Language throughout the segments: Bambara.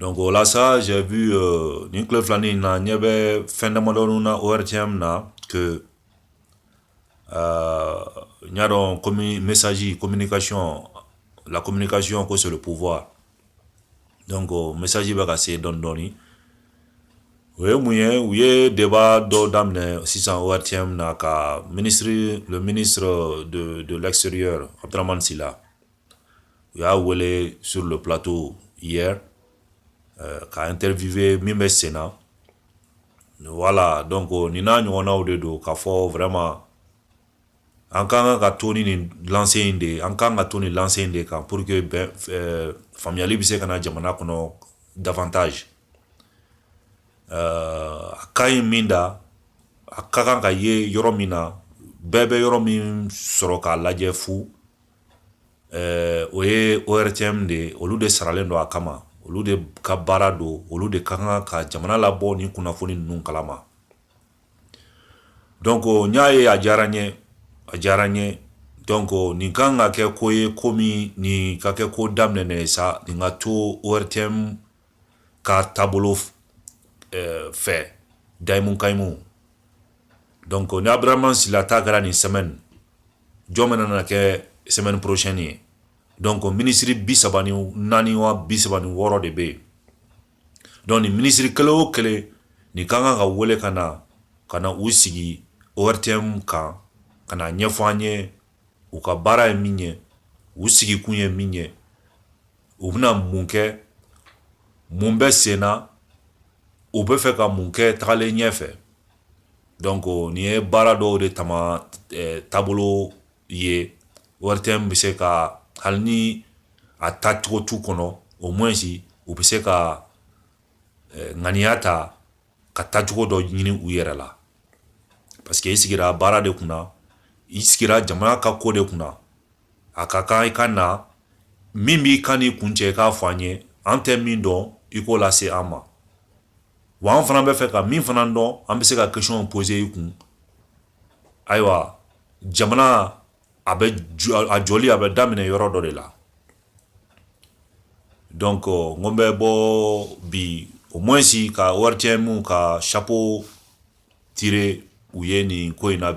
Don ko ola sa sɛ nin ku filanin in na ɲɛ bɛ fɛn damadɔ na o yɛrɛ cɛ min na ke aa n y'a dɔn kɔmi misasi ko mini kasɔn la ko mini kasɔn ko siri pffa don ko misasi bɛ ka se dɔndɔɔni o ye mun ye u ye deba dɔ daminɛ sisan o yɛrɛ cɛ min na ka minisiriri don don lasri a taara masi la u y'a wele sur le plateau hier euh, ka interviewer min bɛ sen na voilà donc nin n'a ɲɔgɔnnaw de don k'a fɔ vraiment an ka kan ka to ni nin lancée in de ye an ka kan ka to nin lancée in de kan pour que bɛn euh, faamuyali bɛ se ka na jamana kɔnɔ davantage euh, a ka ɲi min da a ka kan ka ye yɔrɔ min na bɛɛ bɛ yɔrɔ min sɔrɔ k'a lajɛ fu ɛɛ o ye ORTM de ye olu de saralen don a kama olu de ka baara don olu de ka kan ka jamana labɔ ni kunnafoni ninnu kalama donc n y'a ye a diyara n ye a diyara n ye donc nin kan ka kɛ ko ye kɔmi nin ka kɛ ko daminɛnen ye sa nin ka to ORTM ka taabolo fɛ dayimu kayimu donc ni Abdramane Sylla ta kɛra nin semaine jɔn bɛna na kɛ semaine prochaine ye donc ministre bi saba ni naani wa bi saba ni wɔɔrɔ de bɛ yen donc nin ministre kelen o kelen nin ka kan ka wele ka na ka na u sigi ORTM kan ka na ɲɛfɔ an ye u ka baara ye min ye u sigikun ye min ye u bɛna mun kɛ mun bɛ sen na u bɛ fɛ ka mun kɛ tagalen ɲɛ fɛ donc nin ye baara dɔw de taama taabolo ye ORTM bɛ se ka hali ni a tacogo t'u kɔnɔ au moins u bɛ se ka ŋaniya ta ka tacogo dɔ ɲini u yɛrɛ la parce que i sigira baara de kunna i sigira jamana ka ko de kunna a ka kan i ka na min b'i kan n'i kun cɛ i k'a fɔ an ye an tɛ min dɔn i k'o lase an ma wa an fana bɛ fɛ ka min fana dɔn an bɛ se ka question poser i kun ayiwa jamana a bɛ a jɔli a bɛ daminɛ yɔrɔ dɔ de la donc n ko n bɛ bɔ bi au moins ka ORTM ka chapeau tirer u ye nin ko in na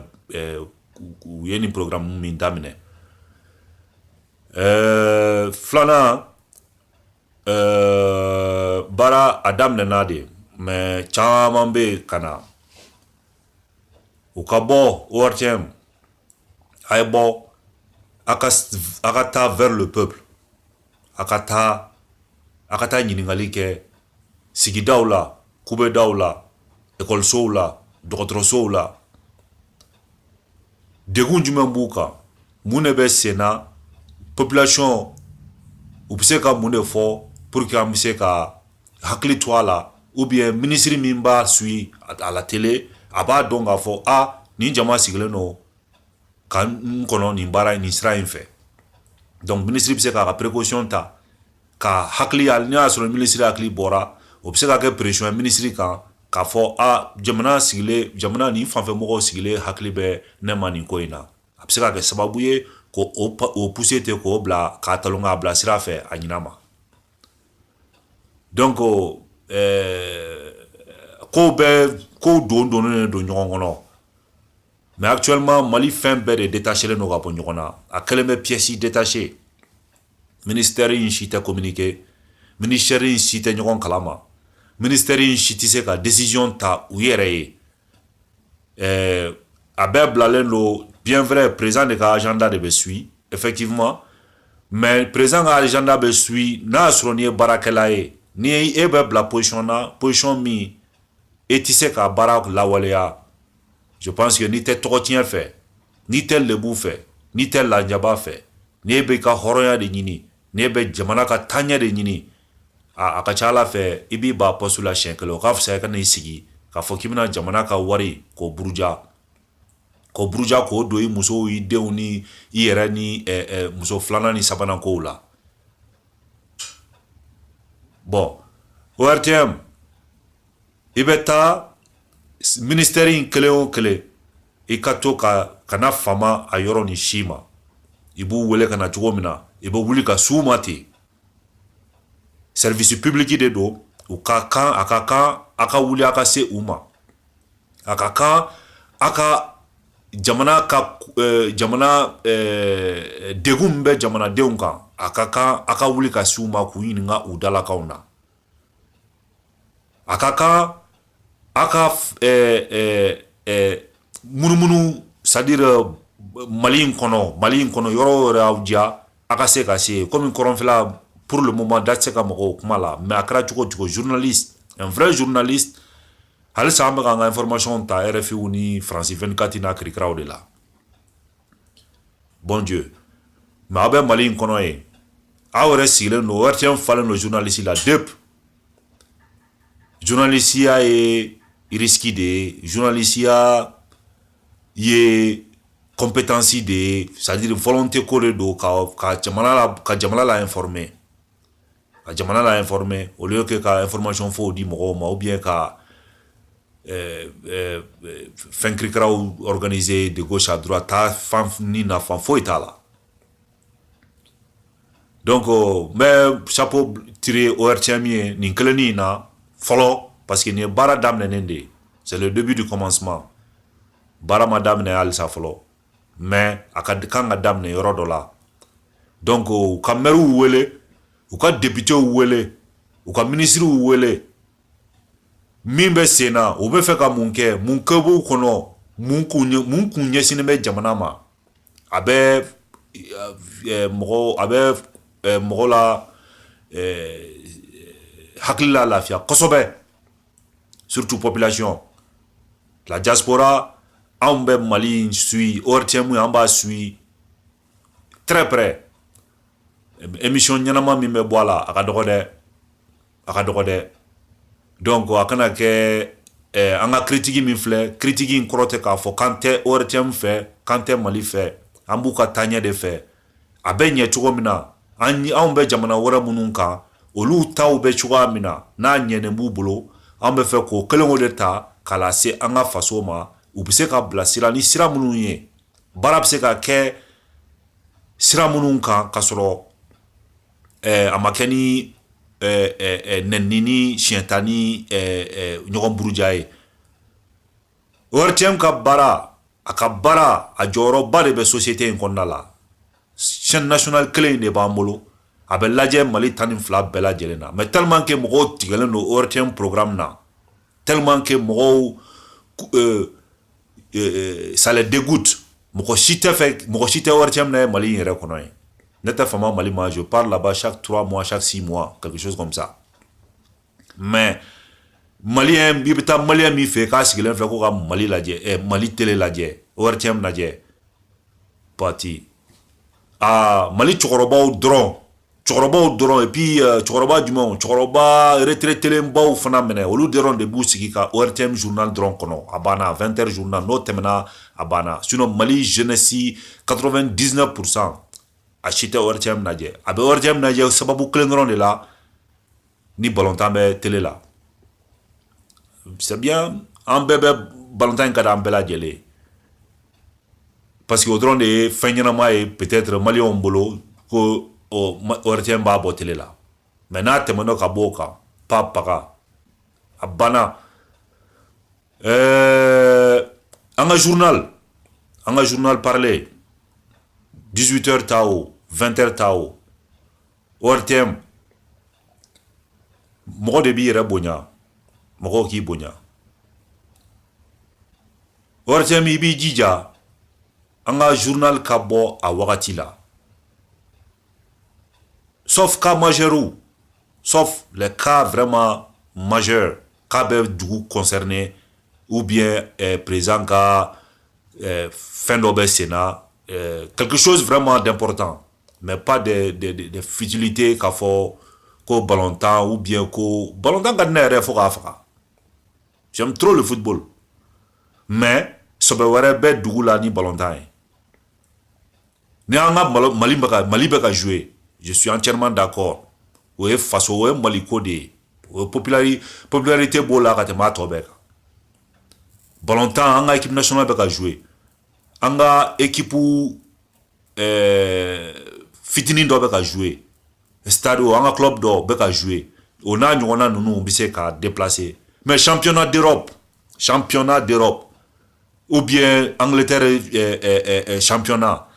u ye nin programme min daminɛ ɛɛ filanan ɛɛ baara a daminɛna de mais caman bɛ ka na u ka bɔ ORTM a ye bɔ a ka a ka taa vers le peuple a ka taa a ka taa ɲininkali kɛ sigidaw la kubedaw la ekɔlisow la dɔgɔtɔrɔsow la degun jumɛn b'u kan mun de bɛ sen na population u bɛ se ka mun de fɔ pour que an bɛ se ka hakili to a la ou bien minisiri min b'a suit a la télé a b'a dɔn k'a fɔ a nin jama sigilen don ka n kɔnɔ nin baara nin sira in fɛ donc minisiri bɛ se k'a ka précaution ta ka hakili n'i y'a sɔrɔ minisiri hakili bɔra o bɛ se ka kɛ pression ye minisiri kan k'a fɔ a jamana sigilen jamana nin fanfɛ mɔgɔw sigilen hakili bɛ ne ma nin ko in na a bɛ se ka kɛ sababu ye k'o pousser ten k'o bila k'a talon k'a bila sira fɛ a ɲin'a ma donc euh, kow bɛɛ kow dondonnen don ɲɔgɔn kɔnɔ mais actuellement mali fɛn bɛɛ de détachelen don ka bɔ ɲɔgɔn na a kɛlen bɛ pièce détachée ministère in si tɛ communiquer ministère in si tɛ ɲɔgɔn kalama ministère in si tɛ se ka décision ta u yɛrɛ ye eh, a bɛɛ bilalen don bien vrai président de ka agenda de bɛ suit effectivement mais président ka agenda bɛ suit n'a y'a sɔrɔ n'i ye baarakɛla ye ni e bɛ bila position na position min e tɛ se ka baara lawaleya je pense que n'i tɛ tɔgɔtiɲɛ fɛ n'i tɛ lebu fɛ n'i tɛ lajaba fɛ n'e bɛ ka hɔrɔnya de ɲini n'e bɛ jamana ka taaɲɛ de ɲini a ka ca ala fɛ i b'i ban poste la siyɛn kelen o ka fisa i ka n'i sigi k'a fɔ k'i bɛna jamana ka wari k'o buruja k'o buruja k'o don i musow i denw ni i yɛrɛ ni muso filanan ni sabanan kow la bon ORTM i bɛ taa ministère in kelen o kelen i ka to kana fama a yɔrɔ nin si ma i b'u wele ka na cogo min na i bɛ wuli ka s'u ma ten service public de don u ka kan a ka kan a ka wuli a ka se u ma a ka kan a ka jamana ka eh, jamana eh, degun min bɛ jamanadenw kan a ka kan a ka wuli ka se u ma k'u ɲininka u dalakanw na a ka kan a ka munumunu c'est-à-dire mali in kɔnɔ mali in kɔnɔ yɔrɔ o yɔrɔ y'aw diya a ka se ka se yen komi kɔrɔnfɛla pour le moment da tɛ se ka maga o kuma la mais a kɛra cogo o cogo journaliste un vrai journaliste halisa an bɛ ka an ka information ta RFIw ni france 24 n'a kirikiraw de la Bon Dieu mais aw bɛ Mali in kɔnɔ yen aw yɛrɛ sigilen don ORTM falen don journaliste la dep journalisiya ye risque de ye journalisiya ye compétence de ye c'est à dire volonté ko de don ka jamana la ka jamana la informer ka jamana la informer au lieu que ka information faux di mɔgɔw ma ou bien ka euh, euh, fɛn kirikaraw organiser de gauche à droite taa fan ni nafan foyi t'a la donc euh, n bɛ chapeau tirer ORTM ye nin kelennin in na fɔlɔ parce que nin ye baara daminɛnen de ye c'est le début du commencement baara ma daminɛ halisa fɔlɔ mais a ka kan ka daminɛ yɔrɔ dɔ la donc u ka mɛriw wele u ka depitew wele u ka minisiriw wele min bɛ sen na u bɛ fɛ ka mun kɛ mun kɛ b'u kɔnɔ mun kun mun kun ɲɛsinnen bɛ jamana ma a bɛ eh, mɔgɔ a bɛ eh, mɔgɔ la eh, hakili lalafiya kosɛbɛ surtout population la diaspora anw bɛ Mali in suit ORTM an b'a suit très près émission ɲɛnama min bɛ bɔ a la a ka dɔgɔ dɛ a ka dɔgɔ dɛ donc a kana kɛ an ka critique min filɛ critique in kɔrɔ tɛ k'a fɔ k'an tɛ ORTM fɛ k'an tɛ Mali fɛ an b'u ka taaɲɛ de fɛ a bɛ ɲɛ cogo min na an anw bɛ jamana wɛrɛ minnu kan olu taw bɛ cogoya min na n'a ɲɛnen b'u bolo an bɛ fɛ k'o kelen o de ta k'a lase an ka faso ma u bɛ se ka bilasira ni sira minnu ye baara bɛ se ka kɛ sira minnu kan k'a sɔrɔ eh, a ma kɛ ni eh, eh, eh, nɛnini ni siɲɛta ni eh, eh, ɲɔgɔn buruja ye ORTM ka baara a ka baara a jɔyɔrɔba de bɛ société in kɔnɔna la chaîne nationale kelen in de b'an bolo a bɛ lajɛ Mali tan ni fila bɛɛ lajɛlen na mais tellement que mɔgɔw tigɛlen don ORTM programme na tellement que mɔgɔw euh, euh, ça les dégoûte mɔgɔ si tɛ fɛ mɔgɔ si tɛ ORTM lajɛ Mali in yɛrɛ kɔnɔ yen ne tɛ fama Mali ma je pars là-bas chaque trois mois chaque six mois quelque chose comme ça mais Malien i bɛ taa Malien min fɛ k'a sigilen filɛ ko ka Mali lajɛ Mali télé lajɛ ORTM lajɛ pati aa Mali cɛkɔrɔbaw dɔrɔn cɛkɔrɔbaw dɔrɔn et puis cɛkɔrɔba jumɛn cɛkɔrɔba retraitelenbaw fana minɛ olu dɔrɔn de b'u sigi ka ORTM journal dɔrɔn kɔnɔ a banna vingt heures journal n'o tɛmɛna a banna sinon Mali jeunesse quatre-vingt-dix-neuf pour cent a si tɛ ORTM lajɛ a bɛ ORTM lajɛ sababu kelen dɔrɔn de la ni balontan bɛ tele la c'est bien an bɛɛ bɛ balontan in ka di an bɛɛ lajɛlen ye parce que o dɔrɔn de ye fɛn ɲɛnama ye peut-être maliyɛnw bolo ko ɔ ORTM b'a bɔ tele la mais n'a tɛmɛn'o ka b'o kan pa paga a banna ɛɛ euh, an ka journal an ka journal parlé 18 heures ta o 20 heures ta o ORTM mɔgɔ de b'i yɛrɛ bonya mɔgɔw k'i bonya ORTM i b'i jija an ka journal ka bɔ a wagati la sauf cas majeurs sauf les cas vraiment majeurs k'a bɛ dugu concerner ou bien eh, président ka eh, fɛn dɔ bɛ senna eh, quelque chose vraiment d'important mais pas de, de, de, de futilité k'a fɔ ko balontan ou bien ko balontan ka di ne yɛrɛ fo k'a faga j'aime trop le football mais sɔbɛ wɛrɛ bɛ dugu la ni balontan ye ni an ka mali bɛ ka mali bɛ ka jouer je suis entièrement d'accord o ye faso o ye maliko de ye o ye popularité popularité b'o la ka tɛmɛ a tɔ bɛɛ kan balontan an ka équipe nationale bɛ ka jouer an ka équipe ɛɛ fitinin dɔ bɛ ka jouer stade o an ka club dɔ bɛ ka jouer o n'a ɲɔgɔnna ninnu bɛ se ka déplacer mais championnat d'Europe championnat d'Europe ou bien Angleterre eh, eh, eh, championnat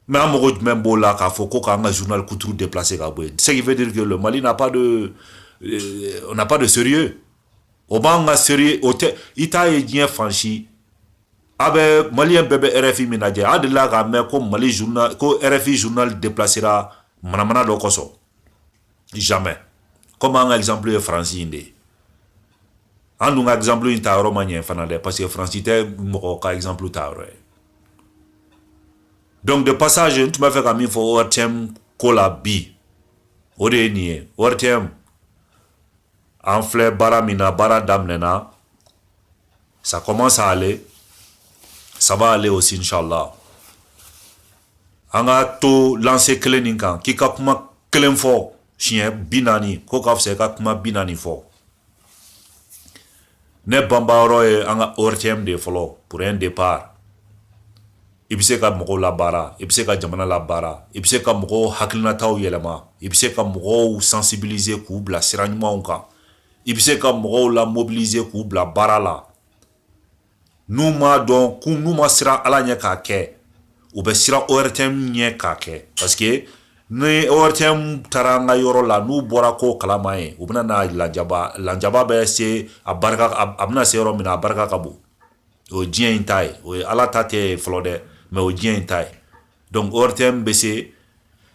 mais an mago jumɛn b'o la k'a fɔ ko k'an ka journal kuturu déplacer ka bɔ yen ce qui veut dire que le Mali n'a pas de euh, on n'a pas de sérieux o b'an ka sérieux o tɛ i t'a ye diɲɛ fan si A bɛ mali bɛɛ bɛ RFI min lajɛ a delila k'a mɛn ko mali ko RFI journal déplacéra manamana dɔ kosɔn jamais comme an ka exemple ye faransi in de ye an dun ka exemple in tayɔrɔ ma ɲɛ fana dɛ parce que faransi tɛ mɔgɔ ka exemple tayɔrɔ ye donc de passage tun b'a fɛ ka min fɔ ORTM ko la bi o de ye nin ye ORTM an filɛ baara min na baara daminɛna Ça commence à aller. Ça va aller aussi, Inch'Allah. An ka to lancée kelen nin kan k'i ka kuma kelen fɔ siɲɛ bi naani k'o ka fisa i ka kuma bi naani fɔ ne banbayɔrɔ ye an ka ORTM de ye fɔlɔ pour un départ i bɛ se ka mɔgɔw labaara i bɛ se ka jamana labaara i bɛ se ka mɔgɔw hakilinataw yɛlɛma i bɛ se ka mɔgɔw sensibiliser k'u bila sira ɲumanw kan i bɛ se ka mɔgɔw la mobiliser k'u bila baara la n'u m'a dɔn k'u n'u ma siran Ala ɲɛ k'a kɛ u bɛ siran ORTM ɲɛ k'a kɛ parce que ni ORTM taara an ka yɔrɔ la n'u bɔra ko kalama yen u bɛna na lanjaba lanjaba bɛ se a barika a bɛna se yɔrɔ min na a barika ka bon o ye diɲɛ in ta ye o ye Ala ta tɛ fɔlɔ dɛ mais o ye diɲɛ in ta ye Donc ORTM bɛ se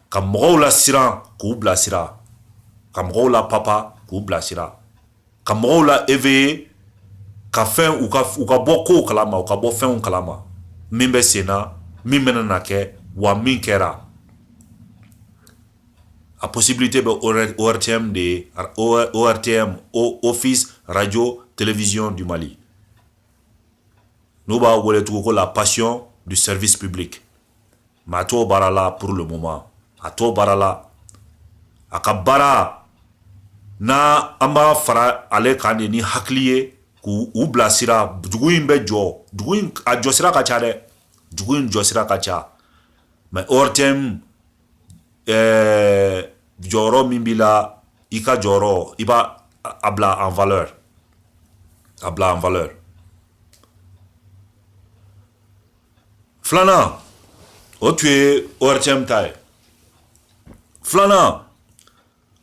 ka mɔgɔw lasiran k'u bilasira ka mɔgɔw lapapa k'u bilasira ka mɔgɔw la éveiller ka fɛn u ka bɔ ko kalama u ka bɔ fɛn kalama min bɛ sen na min bɛna kɛ wa min kɛra a possibilité bɛ ORTM de ye ORTM Office Radio Télévision du Mali n'u b'a wele tugun ko la passion du service public mais a t'o baara la pour le moment a t'o baara la a ka baara na an b'a fara ale kan de ni hakili ye k'u u bilasira dugu in bɛ jɔ dugu in a jɔsira ka ca dɛ dugu in jɔsira ka ca mais ORTM ɛɛ jɔyɔrɔ min b'i la i ka jɔyɔrɔ i b'a a bila en valeur a bila en valeur filanan o tun ye ORTM ta ye filanan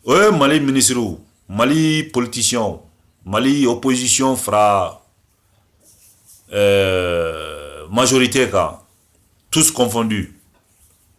o ye Mali minisiriw Mali politiciens Mali opposition fara ɛɛ euh, majorité kan tous confondus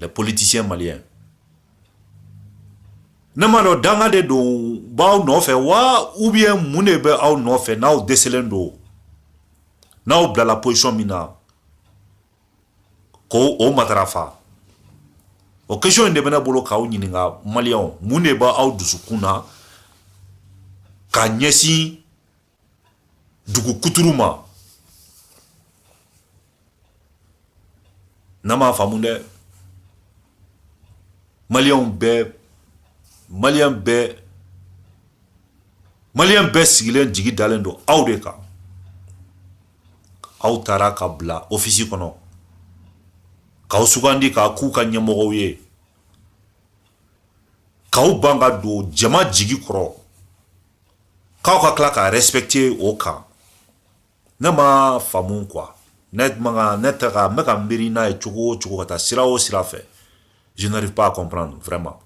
les politiciens maliens ne m'a dɔn danga de don b'aw nɔfɛ wa ou bien mun de bɛ aw nɔfɛ n'aw dɛsɛlen don n'aw bilala position min na ko o matarafa o question in de bɛ ne bolo k'aw ɲininka maliyɛnw mun de b'aw dusukun na ka ɲɛsin dugu kuturu ma ne m'a faamu dɛ maliyɛnw bɛɛ maliyɛn bɛɛ maliyɛn bɛɛ sigilen jigi dalen don aw de kan aw tara ka bila ofisi kɔnɔ k'aw sugandi k'aw k'u ka ɲɛmɔgɔw ye k'aw ban ka don jama jigi kɔrɔ K'aw ka tila ka respecter o kan ne ma faamu quoi ne tɛ ka n bɛ ka n miiri n'a ye cogo o cogo ka taa sira o sira fɛ je n'arrive pas à comprendre vraiment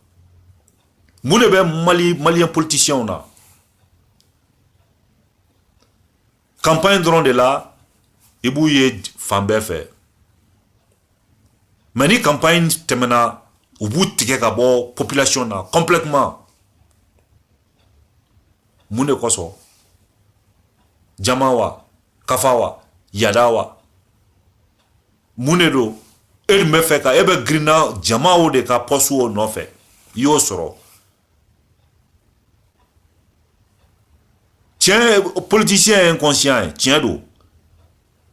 mun de bɛ Mali malien politiciens na campagne dɔrɔn de la i b'u ye fan bɛɛ fɛ mais ni campagne tɛmɛna u b'u tigɛ ka bɔ population na complètement mun de kosɔn jama wa kafa wa yada wa mun de don e dun bɛ fɛ ka e bɛ girinna jamaw de ka poste o nɔfɛ i y'o sɔrɔ tiɲɛ politicien ye inconscient ye tiɲɛ don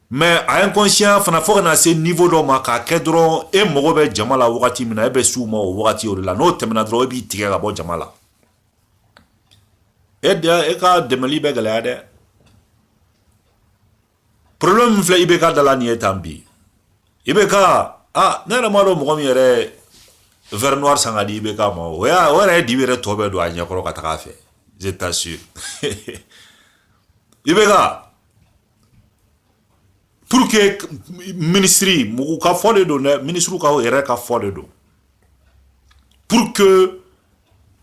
mais a inconscient fana fo kana se niveau dɔ ma k'a kɛ dɔrɔn e mago bɛ jama la wagati min na e bɛ s'u ma o wagati o de la n'o tɛmɛna dɔrɔn e b'i tigɛ ka bɔ jama la e ka dɛmɛli bɛ gɛlɛya dɛ problème min filɛ IBK da la nin ye tan bi IBK ah ne yɛrɛ m'a dɔn mɔgɔ min yɛrɛ verre noir san ka di IBK ma o y'a o yɛrɛ ye dibi yɛrɛ tɔ bɛɛ don a ɲɛkɔrɔ ka taga a fɛ je t'assure IBK pour que minisiriw ka fɔ de don dɛ minisiriw ka yɛrɛ ka fɔ de don pour que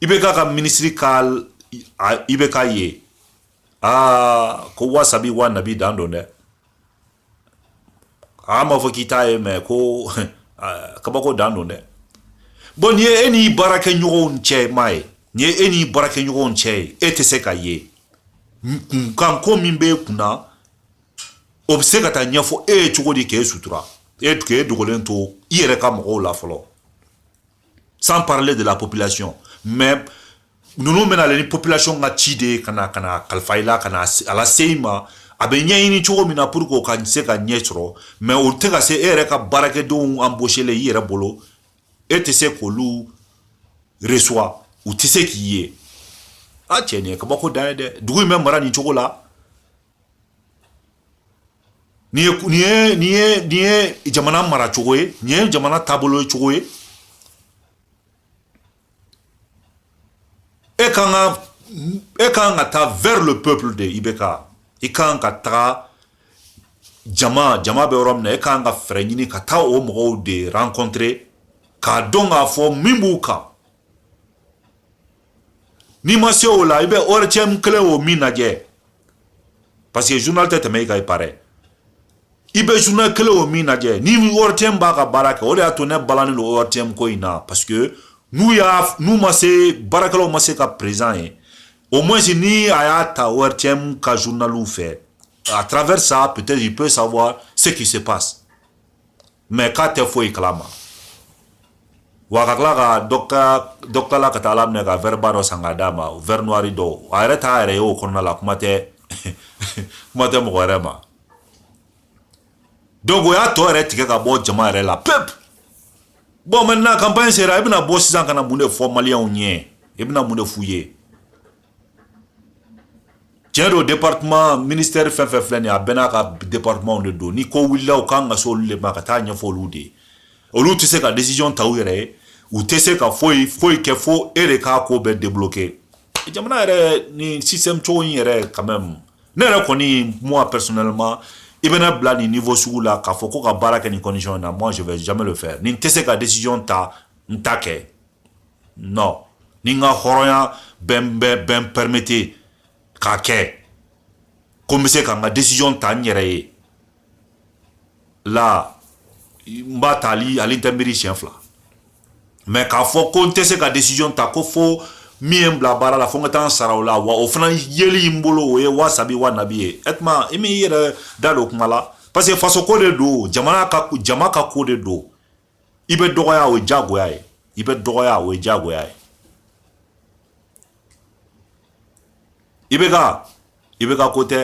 IBK ka minisiri ka IBK ye aa ko wasabi wa nabi dan don dɛ a ma fɔ k'i t'a ye mais ko kabako dan don dɛ bon nin ye e n'i baarakɛɲɔgɔnw cɛ ma ye nin ye e n'i baarakɛɲɔgɔnw cɛ ye e tɛ se ka ye kunkanko min b'e kun na o bɛ se ka taa ɲɛfɔ e ye cogo di k'e sutura e k'e dogolen to i yɛrɛ ka mɔgɔw la fɔlɔ sans parler de la population mais ninnu bɛ nalen ni population ka ci de ye ka na ka na kalifa i la ka na a lase i ma a bɛ ɲɛɲini cogo min na pour que o ka se ka ɲɛ sɔrɔ mais o tɛ ka se e yɛrɛ ka baarakɛdenw embauchelen i yɛrɛ bolo e tɛ se k'olu reçoit u tɛ se k'i ye a cɛ nin ye kabako dan ye dɛ dugu in bɛ mara nin cogo la Nin ye jamana maracogo ye nin ye jamana taabolo cogo ye e ka kan ka e ka kan ka taa vers le peuple de IBK i ka kan ka taga jama jama bɛ yɔrɔ min na e ka kan ka fɛɛrɛ ɲini ka taa o mɔgɔw de rencontrer k'a dɔn k'a fɔ min b'u kan n'i ma se o la i bɛ ORTM kelen o min lajɛ parce que journal tɛ tɛmɛ i kan il paraît i bɛ journal kelen o min lajɛ ni ORTM b'a ka baara kɛ o de y'a to ne balannen don ORTM ko in na parce que n'u y'a n'u ma se baarakɛlaw ma se ka président ye au moins ni a y'a ta ORTM ka journaliw fɛ à travers ça peut-être il peut savoir ce qui se passe mais k'a tɛ foyi kalama wa ka tila ka dɔ k'a la ka taa ala minɛ ka verre ba dɔ san k'a d'a ma verre noir dɔw a yɛrɛ t'a yɛrɛ ye o kɔnɔna la kuma tɛ mɔgɔ wɛrɛ ma donc o y'a tɔ yɛrɛ tigɛ ka bɔ jama yɛrɛ la pep bon maintenant campagne sera i bɛna bɔ sisan ka na mun de fɔ maliyɛnw ɲɛ i bɛna mun de f'u ye Tiɲɛ don département ministère fɛn fɛn filɛ nin ye a bɛɛ n'a ka départementw de don ni ko wulila u kan ka se olu de ma ka taa ɲɛfɔ olu de ye olu tɛ se ka décision ta u yɛrɛ ye u tɛ se ka foyi foyi kɛ fo e de k'a ko bɛɛ débloquer jamana yɛrɛ nin système cogo in yɛrɛ quand même ne yɛrɛ kɔni moi personnellement i bɛ ne bila nin niveau sugu la k'a fɔ ko ka baara kɛ nin condition in na moi je vais jamais le faire ni n tɛ se ka décision ta n t'a kɛ non ni n ka hɔrɔnya bɛ n permettre k'a kɛ ko n bɛ se ka n ka décision ta n yɛrɛ ye la n b'a ta hali n tɛ miiri siɲɛ fila mais k'a fɔ ko n tɛ se ka décision ta ko fo min ye n bila baara la fo n ka taa n sara o la wa o fana yeli n bolo o ye wa sabi wa nabi ye e tuma i m'i yɛrɛ da don kuma la parce que fasoko de don jamana ka jama ka ko de don i bɛ dɔgɔya o ye diyagoya ye i bɛ dɔgɔya o ye diyagoya ye IBK IBK ko tɛ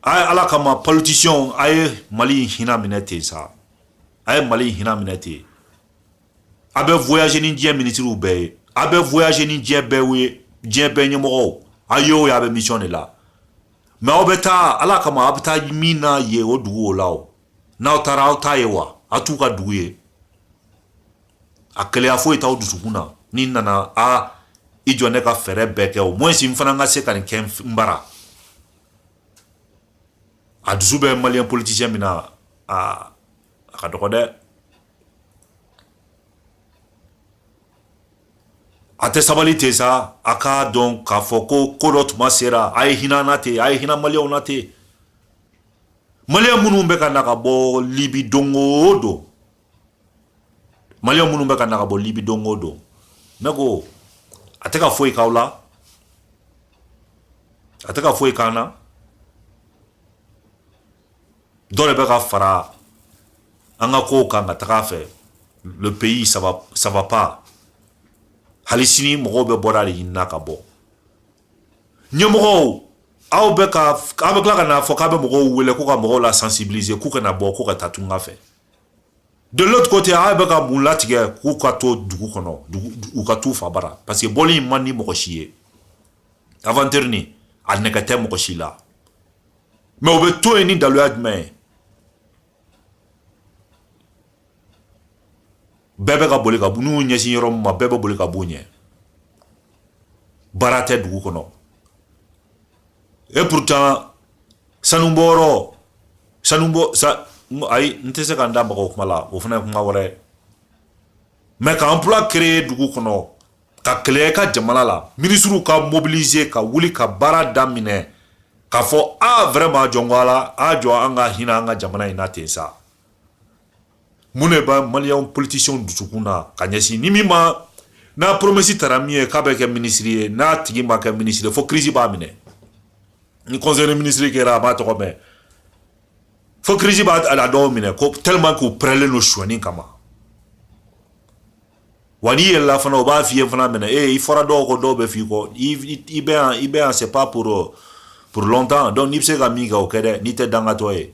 a ye ala kama politisiyɛnw a ye mali hinɛ minɛ ten sa a ye mali hinɛ minɛ ten a bɛ voyage ni diɲɛ minisiriw bɛɛ ye a bɛ voyage ni diɲɛ bɛɛ ye diɲɛ bɛɛ ɲɛmɔgɔw a ye o ye a bɛ mission de la mais aw bɛ taa ala kama a bɛ taa min na ye o dugu o la o n'aw taara aw t'a ye wa a t'u ka dugu ye a keleya foyi t'aw dusukun na n'i nana a i jɔ ne ka fɛɛrɛ bɛɛ kɛ au moins n fana ka se ka nin kɛ n bara a dusu bɛ maliyɛn politisiyɛn min na a a ka dɔgɔ dɛ a tɛ sabali ten sa a k'a dɔn k'a fɔ ko ko dɔ tuma sera a ye hinɛ an na ten a ye hinɛ maliyɛnw na ten Maliyɛn minnu bɛ ka na ka bɔ Libi don o don Maliyɛn minnu bɛ ka na ka bɔ Libi don o don ne ko a tɛ ka foyi k'aw la a tɛ ka foyi k'an na dɔ de bɛ ka fara an ka kow kan ka taga a fɛ le pays ça va pas hali sini mɔgɔw bɛ bɔda de ɲini na ka bɔ ɲɛmɔgɔw aw bɛ ka aw bɛ tila ka n'a fɔ k'a bɛ mɔgɔw wele ko ka mɔgɔw la sensibiliser k'u kana bɔ ko ka taa tunga fɛ de l'autre côté aw bɛ ka mun latigɛ k'u ka to dugu kɔnɔ u ka t'u fa bara parce que bɔli in man di mɔgɔ si ye aventure nin a nege tɛ mɔgɔ si la mais u bɛ to yen ni daluya jumɛn ye bɛɛ bɛ ka boli ka n'u ɲɛsin yɔrɔ min ma bɛɛ bɛ boli ka b'u ɲɛ baara tɛ dugu kɔnɔ et pourtant sanubɔ yɔrɔ sanubɔ sa ayi n tɛ se ka n da maga o kuma la o fana ye kuma wɛrɛ ye mais ka emploi créer dugu kɔnɔ ka créer ka jamana la minisiriw ka mobiliser ka wuli ka baara daminɛ k'a fɔ a vraiment jɔn ko ala a jɔ an ka hinɛ an ka jamana in na ten sa mun de b'a maliyɛnw politisiɲɛw dusukun na ka ɲɛsin ni min ma n'a promesi tara min ye k'a bɛ kɛ minisiri ye n'a tigi ma kɛ minisiri ye fo kirisi b'a minɛ ni conseil minisiri kɛra a m'a tɔgɔ mɛn fo kirisi b'a a dɔw minɛ ko tellement k'u pɛrɛlen don suɲɛni kama wa n'i yɛlɛla fana o b'a f'i ye fana minɛ ee i fɔra dɔw kɔ dɔw bɛ f'i kɔ i bɛ yan i bɛ yan c'est pas pour pour longtemps donc n'i bɛ se ka min kɛ o kɛ dɛ n'i tɛ dangatɔ ye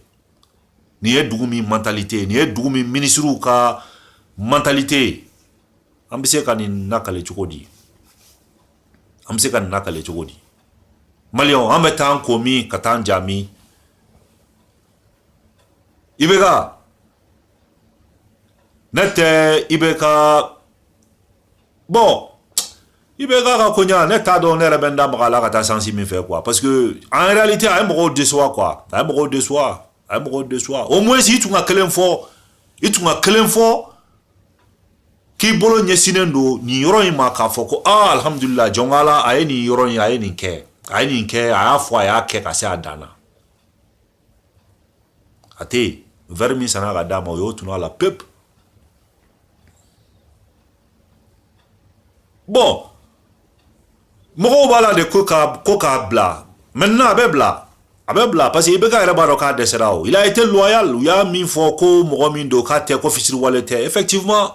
nin ye dugu min mentalité ye nin ye dugu min minisiriw ka mentalité ye an bɛ se ka nin nakale cogo di an bɛ se ka nin nakale cogo di maliyɛnw an bɛ taa ko min ka taa ja min ibeka ne tɛ ibeka bon ibeka ka koɲa ne t'a dɔn ne yɛrɛ bɛ n da maga a la ka taa sansi min fɛ quoi parce que en réalité a ye mɔgɔw déçoit quoi a ye mɔgɔw déçoit a ye mɔgɔw déçoit au moins i tun ka kelen fɔ i tun ka kelen fɔ k'i bolo ɲɛsinnen don nin yɔrɔ in ma k'a fɔ ko aa alhamdulila jɔn ko ala a ye nin yɔrɔ in a ye nin kɛ a ye nin kɛ a y'a fɔ a y'a kɛ ka se a dan na a tɛ yen wɛri min sanna ka d'a ma o y'o tunu a la pepu bon mɔgɔw b'a la de ko k'a ko k'a bila maintenant a bɛ bila a bɛ bila parce que ibeka yɛrɛ b'a dɔn k'a dɛsɛra o il a été loyal u y'a min fɔ ko mɔgɔ min don k'a tɛ ko fisiriwale tɛ effectivement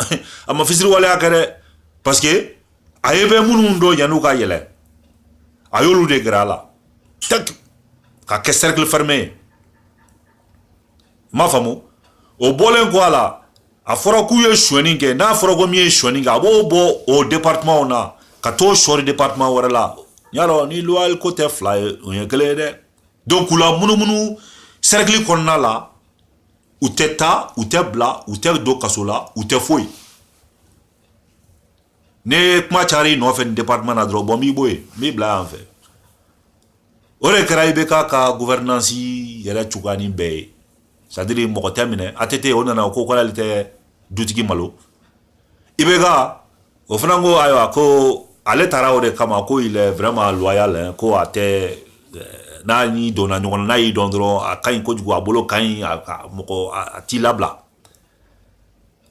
a ma fisiriwaleya kɛ dɛ parce que a ye bɛ minnu dɔn yan'u ka yɛlɛ a y'olu de gɛrɛ a la ka kɛ cercle fermé ye m'a faamu o bɔlen kɔ a la a fɔra k'u ye sonyani kɛ n'a fɔra ko min ye sonyani kɛ a b'o bɔ o département na ka t'o sɔri département wɛrɛ la y'a dɔn ni loyal ko tɛ fila ye o ye kelen ye dɛ donc k'u lamunumunu cercle kɔnɔna la u tɛ taa u tɛ bila u tɛ don kaso la u tɛ foyi ni kuma cayara i nɔfɛ nin département na dɔrɔn bon n b'i bɔ yen n b'i bila yan fɛ o de kɛra IBK ka gouvernance yɛrɛ cogoya nin bɛɛ ye c'est-à-dire mɔgɔ tɛ minɛ ATT o nana o ko k'ale tɛ dutigi malo IBK o fana ko ayiwa ko ale taara o de kama ko il est vraiment loyal hein, ko a tɛ n'a n'i donna ɲɔgɔn na n'a y'i dɔn dɔrɔn a ka ɲi kojugu a bolo ka ɲi a mɔgɔ a t'i labila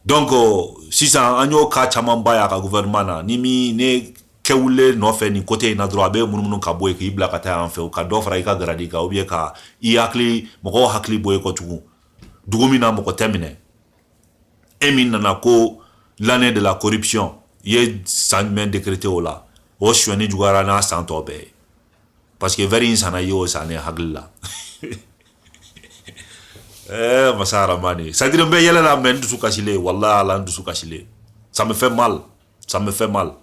donc sisan an y'o ka camanba y'a ka gouvernement na ni min ne kɛwulen nɔfɛ nin côté in na dɔrɔn a bɛ munumunu k'i bɔ yen k'i bila ka taa yan fɛ u ka dɔ fara i ka garadi kan ou bien ka i hakili mɔgɔw hakili bɔ i kɔ tugun dugu min na mɔgɔ tɛ minɛ e min nana ko l'année de la corruption i ye san jumɛn décrété o la o sonyani juguyara n'a san tɔ bɛɛ ye parce que vɛri in sanna y'o san ne hakili la eh, masa aramani c'est-à-dire n bɛ yɛlɛ la mais n dusu kasilen walahi ala n dusu kasilen ça me fait mal ça me fait mal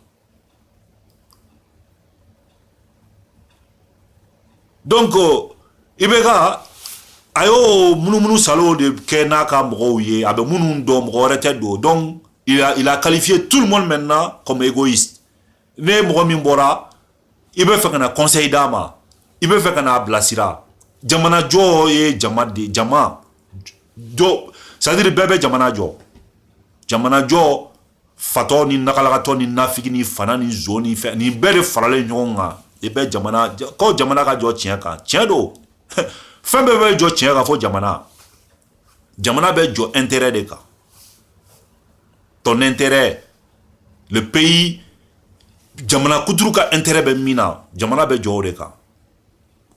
donc IBK a y'o munumunu saalo de kɛ n'a ka mɔgɔw ye a bɛ minnu dɔn mɔgɔ wɛrɛ tɛ don donc il a, il a qualifié tout le monde maintenant comme égoïste Ni mɔgɔ min bɔra i bɛ fɛ ka na conseil d'a ma i bɛ fɛ ka n'a bilasira jamanajɔ ye jama de jama jɔ c'est-à-dire bɛɛ bɛ jamana jɔ jamanajɔ fatɔ ni nakalakatɔ ni nafigi ni fana ni zon ni fɛn nin bɛɛ de faralen ɲɔgɔn kan i bɛ ko jamana ka jɔ tiɲɛ kan tiɲɛ don fɛn bɛɛ bɛ jɔ tiɲɛ kan fɔ jamana jamana bɛ jɔ intérêt de kan ton intérêt le pays jamana kuturu ka intérêt bɛ min na jamana bɛ jɔ o de kan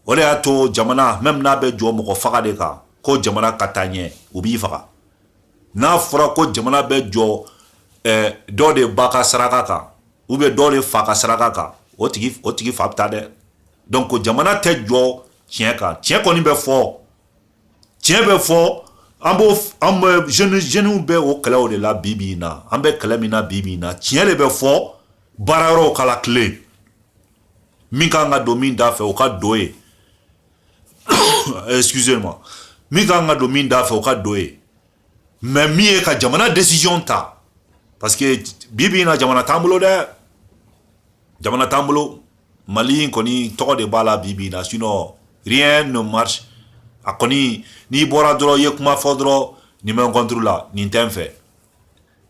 o de y'a to jamana même n'a bɛ jɔ mɔgɔ faga de kan ko jamana ka taa ɲɛ u b'i faga n'a fɔra ko jamana bɛ jɔ eh, dɔ de ba ka saraka kan ou bien dɔ de fa ka saraka kan o tigi o tigi fa bɛ taa dɛ donc jamana tɛ jɔ tiɲɛ kan tiɲɛ kɔni bɛ fɔ tiɲɛ bɛ fɔ an b'o an bɛ jeunes jeunes bɛ o kɛlɛw de la bi bi in na an bɛ kɛlɛ min na bi bi in na tiɲɛ de bɛ fɔ baara yɔrɔw ka latilen min kan ka don min da fɛ o ka don yen excusez moi min kan ka don min da fɛ o ka don yen Mais min ye ka jamana décision ta parce que bi bi na jamana t'an bolo dɛ jamana t'an bolo Mali in kɔni tɔgɔ de b'a la bi bi na sinon rien ne marche a kɔni n'i bɔra dɔrɔn i ye kuma fɔ dɔrɔn nin bɛ n contre la nin tɛ n fɛ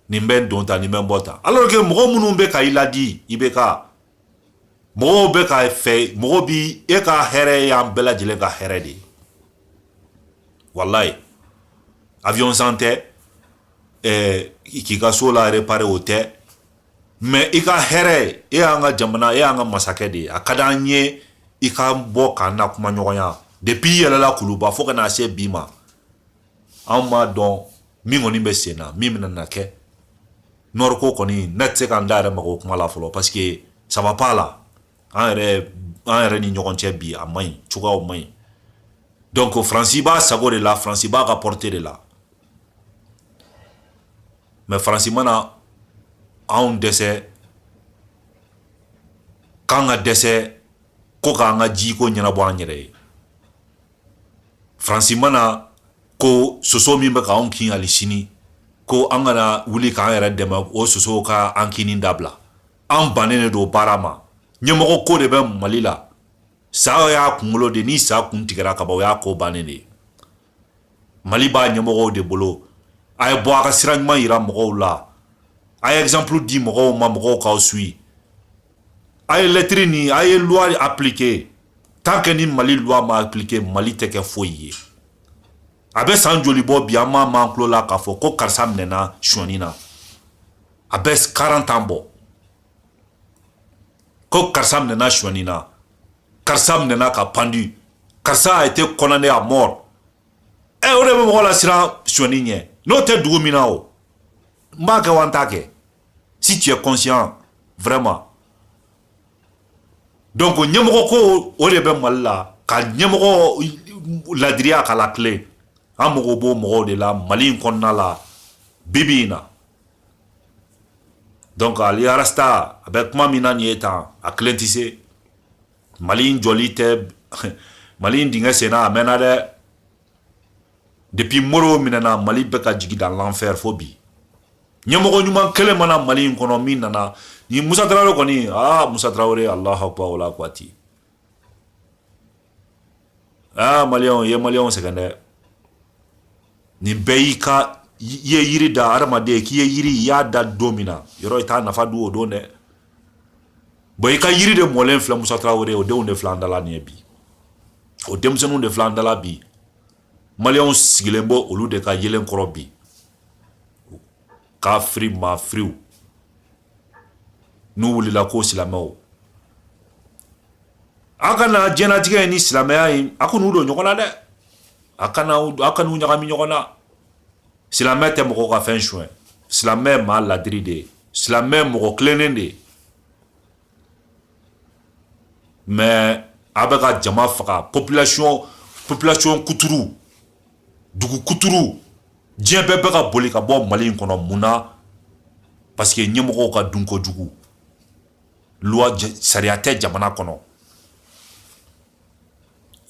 nin bɛ n don ta nin bɛ n bɔ ta alors que mɔgɔ minnu bɛ ka i laadi i bɛ ka mɔgɔw bɛ ka fɛ mɔgɔ bi e ka hɛrɛ y'an bɛɛ lajɛlen ka hɛrɛ de ye walayi avion san tɛ ɛɛ k'i ka so la réparer o tɛ mais i ka hɛrɛ e y'an ka jamana e y'an ka masakɛ de ye a ka d'an ye i ka bɔ k'an na kuma ɲɔgɔnya depuis i yɛlɛla kuluba fo ka na se bi ma an m'a dɔn min kɔni bɛ sen na min bɛna na kɛ nord ko kɔni ne tɛ se ka n da yɛrɛ maga o kuma la fɔlɔ parce que ça va pas là an yɛrɛ ni ɲɔgɔn cɛ bi a man ɲi cogoyaw man ɲi donc faransi b'a sago de la faransi b'a ka porte de la mais faransi ma na anw dɛsɛ k'an ka dɛsɛ ko k'an ka jiko ɲɛnabɔ an yɛrɛ ye faransi ma na ko soso min bɛ ka anw kin hali sini ko an kana wuli k'an yɛrɛ dɛmɛ o sosow ka an kinni dabila an bannen de don baara ma ɲɛmɔgɔ ko de bɛ mali la sa y'a kunkolo de ni sa kun tigɛra kaban o y'a ko bannen de ye mali b'a ɲɛmɔgɔw de bolo a ye bɔ a ka sira ɲuman yira mɔgɔw la a ye exemple di mɔgɔw ma mɔgɔw k'aw suit a ye lɛtiri nin a ye loi appliquer tant que ni mali loi ma appliquer mali tɛ kɛ foyi ye a bɛ san joli bɔ bi an m'a m'an tulo la k'a fɔ ko karisa minɛna sonyani na a bɛ 40 ans bɔ ko karisa minɛna sonyani na karisa minɛna ka pendu karisa a été condamné à mort ɛ eh, o de bɛ mɔgɔ lasiran sonyani ɲɛ n'o tɛ dugu min na o n b'a kɛ wa n t'a kɛ si tu es conscient vraiment donc ɲɛmɔgɔ ko o de bɛ mali la ka ɲɛmɔgɔ ladiriya k'a latilen an mago b'o mɔgɔw de la mali in kɔnɔna la bibi in na donc hali rasta a bɛ kuma min na nin ye tan a kelen tɛ se mali in jɔli tɛ mali in dingɛ senna a mɛnna dɛ depuis moro minɛna mali bɛ ka jigin dans l'enfer fo bi ɲɛmɔgɔ ɲuman kelen ma na mali in kɔnɔ min nana ni musa tarawele kɔni aa musa tarawele alahu akbar wala kwati aa maliyɛnw ye maliyɛnw sɛgɛn dɛ nin bɛɛ y'i ka i ye yiri da hadamaden k'i ye yiri i y'a da don min na yɔrɔ i t'a nafa dun o don dɛ bon i ka yiri de mɔlen filɛ musa tarawele o denw de filɛ an dala nin ye bi o denmisɛnninw de filɛ an da la bi maliyɛnw sigilen bɛ olu de ka yelen kɔrɔ bi kafiri mafiriw n'u wulila ko silamɛw a kana diɲɛlatigɛ ni silamɛya in a kana u don ɲɔgɔn na dɛ a kana a kana u ɲagami ɲɔgɔn na silamɛ tɛ mɔgɔ ka fɛn suɲɛ silamɛ ye maa ladiri de ye silamɛ mɔgɔ tilennen de ye mais a bɛ ka jama faga population population kuturu dugu kuturu diɲɛ bɛɛ bɛ ka boli ka bɔ mali in kɔnɔ mun na parce que ɲɛmɔgɔw ka dun kojugu loi sariya tɛ jamana kɔnɔ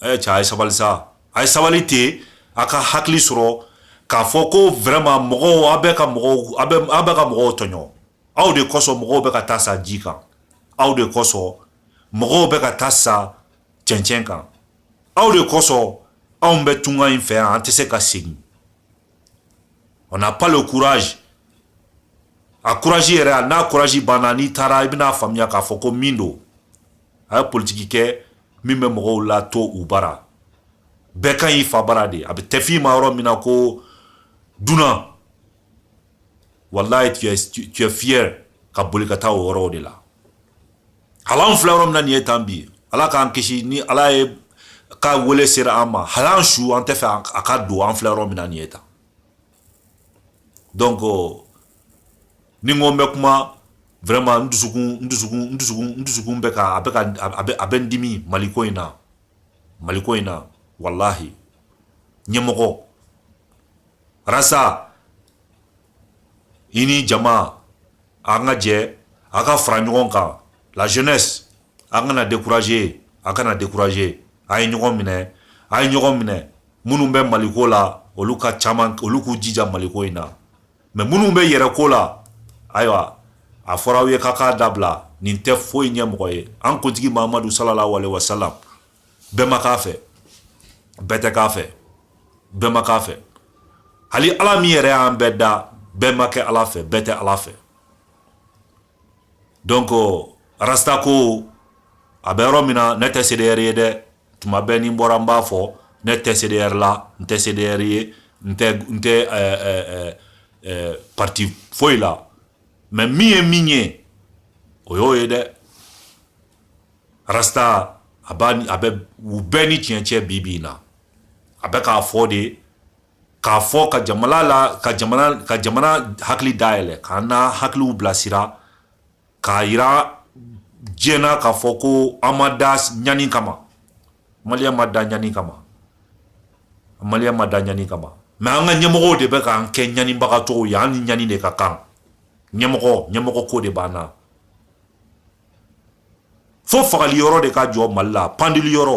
ɛ cɛ a ye sabali sa a ye sabali ten a ka hakili sɔrɔ k'a fɔ ko vraiment mɔgɔw a bɛ ka mɔgɔw a bɛ ka mɔgɔw tɔɲɔ aw de kosɔn mɔgɔw bɛ ka taa sa ji kan aw de kosɔn mɔgɔw bɛ ka taa sa cɛncɛn kan aw de kosɔn anw bɛ tunga in fɛ yan an tɛ se ka segin on n'a pas le courage a courage yɛrɛ a n'a courage banna n'i taara i bɛna faamuya k'a fɔ ko min don a ye politiki kɛ min bɛ mɔgɔw lato u bara bɛɛ ka ɲi i fa bara de a bɛ tɛ f'i ma yɔrɔ min na ko dunan wallahi tu es, tu, tu es fier ka boli ka taa o yɔrɔw de la hali an filɛ yɔrɔ min na nin ye tan bi ala k'an kisi ni ala ye ka wele sera an ma hali an su an t'a fɛ a ka don an filɛ yɔrɔ min na nin ye tan donc ni n ko n bɛ kuma vraiment n dusukun n dusukun n dusukun n dusukun bɛ ka a bɛ ka a bɛ a bɛ n dimi maliko in na maliko in na wallahi ɲɛmɔgɔ rasta i ni jama an ka jɛ a ka fara ɲɔgɔn kan la jeunesse an kana décourager a kana décourager a ye ɲɔgɔn minɛ a ye ɲɔgɔn minɛ minnu bɛ maliko la olu ka caman olu k'u jija maliko in na mais minnu bɛ yɛrɛ ko la ayiwa a fɔra aw ye k'a k'a dabila nin tɛ foyi ɲɛ mɔgɔ ye an kuntigi mahamadu sallallahu alaihi wasallam bɛɛ ma k'a fɛ bɛɛ tɛ k'a fɛ bɛɛ ma k'a fɛ hali ala min yɛrɛ y'an bɛɛ da bɛɛ ma kɛ ala fɛ bɛɛ tɛ ala fɛ donc rasta ko a bɛ yɔrɔ min na ne tɛ CDR ye dɛ tuma bɛɛ ni n bɔra n b'a fɔ ne tɛ CDR la n tɛ CDR ye n tɛ n tɛ ɛɛ ɛɛ ɛɛ parti foyi la mais min ye min ye o y'o ye dɛ Rasta a b'a a bɛ u bɛɛ ni tiɲɛ cɛ bi bi in na a bɛ k'a fɔ de k'a fɔ ka jamana la ka ka jamana hakili dayɛlɛ k'an na hakiliw bilasira k'a jira diɲɛ na k'a fɔ ko an ma da ɲani kama mali ma da ɲani kama mali ma da ɲani kama mais an ka ɲɛmɔgɔw de bɛ k'an kɛ ɲanibagatɔw ye an ni ɲani de ka kan ɲɛmɔgɔ ɲɛmɔgɔ ko de b'an na fo fagali yɔrɔ de ka jɔ mali la pandili yɔrɔ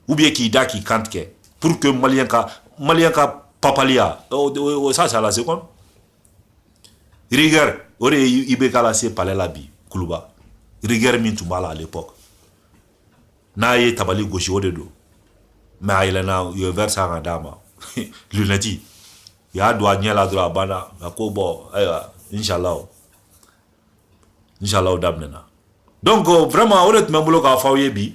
ou bien k'i da k'i kantigɛ pour que maliyɛn ka maliyɛn ka papaliya o ça c'est à la seconde rigueur o de ye IBK lase palais la bi kuluba rigueur min tun b'a la à l'époque n'a ye tabali gosi o de don mais a yɛlɛnna u ye verre san ka d'a ma lunette u y'a don a ɲɛ la dɔrɔn a banna a ko bon ayiwa inshallah Inshallah daminɛna donc vraiment o de tun bɛ n bolo k'a fɔ aw ye bi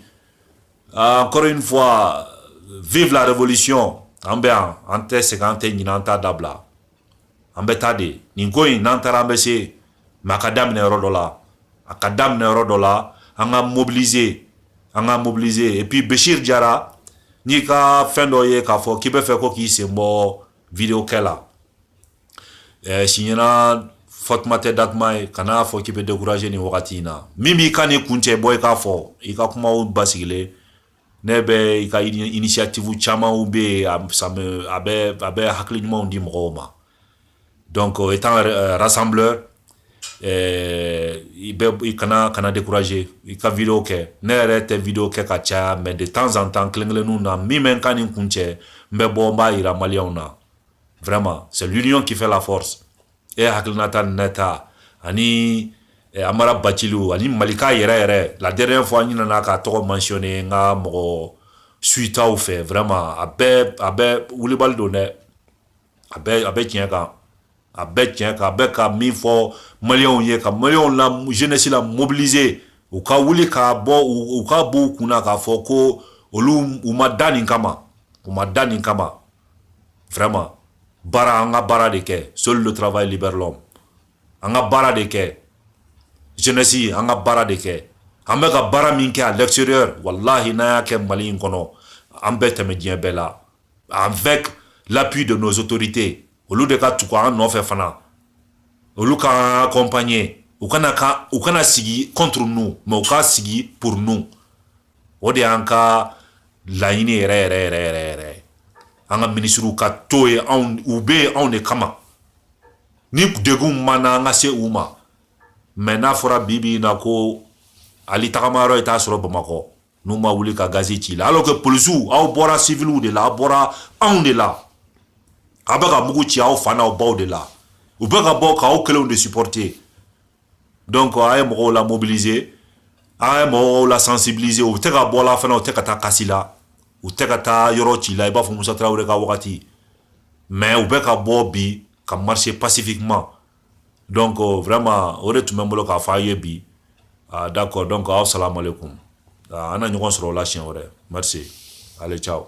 ah, encore une fois vive la révolution an bɛ yan an tɛ segin an tɛ ɲinɛ an t'a dabila an bɛ taa de nin ko in n'an taara an bɛ se mais a ka daminɛ yɔrɔ dɔ la a ka daminɛ yɔrɔ dɔ la an ka mobiliser an ka mobiliser et puis Bechir Jara n'i ka fɛn dɔ ye k'a fɔ k'i bɛ fɛ ko k'i sen bɔ video kɛ la eh, si ɲɛna fatuma tɛ datuma ye kana fɔ k'i bɛ décourager nin wagati in na min b'i ka nin kun cɛ bɔ i k'a fɔ i ka kumaw basigilen ne bɛ i ka initiative camanw bɛ yen a bɛ a bɛ hakili ɲumanw di mɔgɔw ma donc étant rassembleur ɛɛ i bɛ i kana kana décourager i ka video kɛ ne yɛrɛ tɛ video kɛ ka caya mais de temps en temps kelen kelenninw na min bɛ n ka nin kun cɛ n bɛ bɔ n b'a yira maliyɛnw na vraiment c'est l'union qui fait la force e hakilinata ni ne ta ani eh, amara baciliw ani malika yɛrɛ yɛrɛ la dernière fois n ɲinana k'a tɔgɔ mentionner n ka mɔgɔ suitaw fɛ vraiment a bɛ a bɛ wulibali don dɛ a bɛ a bɛ tiɲɛ kan a bɛ tiɲɛ kan a bɛ ka min fɔ maliyɛnw ye ka maliyɛnw la jeunesse la mobiliser u ka wuli k'a bɔ u k'a bɔ u kun na k'a fɔ ko olu u ma da nin kama u ma da nin kama vraiment baara an ka baara de kɛ seul le travail libère l'homme an ka baara de kɛ jeunesse an ka baara de kɛ an bɛ ka baara min kɛ à l'extérieur walahi n'an y'a kɛ mali in kɔnɔ an bɛ tɛmɛ diɲɛ bɛɛ la Avec l'appui de nos autorités, olu de ka tugu an nɔfɛ fana, olu k'an accompagner, u kana ka u kana sigi contre nous, mais u ka sigi pour nous. O de y'an ka laɲini yɛrɛ yɛrɛ yɛrɛ yɛrɛ yɛrɛ. An ka ministres ka to yen, u bɛ yen anw de kama. Ni degun min b'an na an ka se u ma. Mais n'a fɔra bi bi in na ko hali tagama yɔrɔ i t'a sɔrɔ Bamakɔ. n'u ma wuli ka gazi ci la alors que polisiw aw bɔra siviliw de la aw bɔra anw de la a bɛ ka mugu ci aw fa n'aw baw de la u bɛ ka bɔ k'aw kelenw de supporter donc a ye mɔgɔw la mobiliser a ye mɔgɔw la sensibiliser u tɛ ka bɔ la fana u tɛ ka taa casser la u tɛ ka taa yɔrɔ ci la i b'a fɔ musa tarawele ka wagati mais u bɛ ka bɔ bi ka marcher pacifiquement donc vraiment o de tun bɛ n bolo k'a fɔ aw ye bi ah, d'accord donc aw salam aleykum ah, an na ɲɔgɔn sɔrɔ o la siɲɛ wɛrɛ merci allez ciao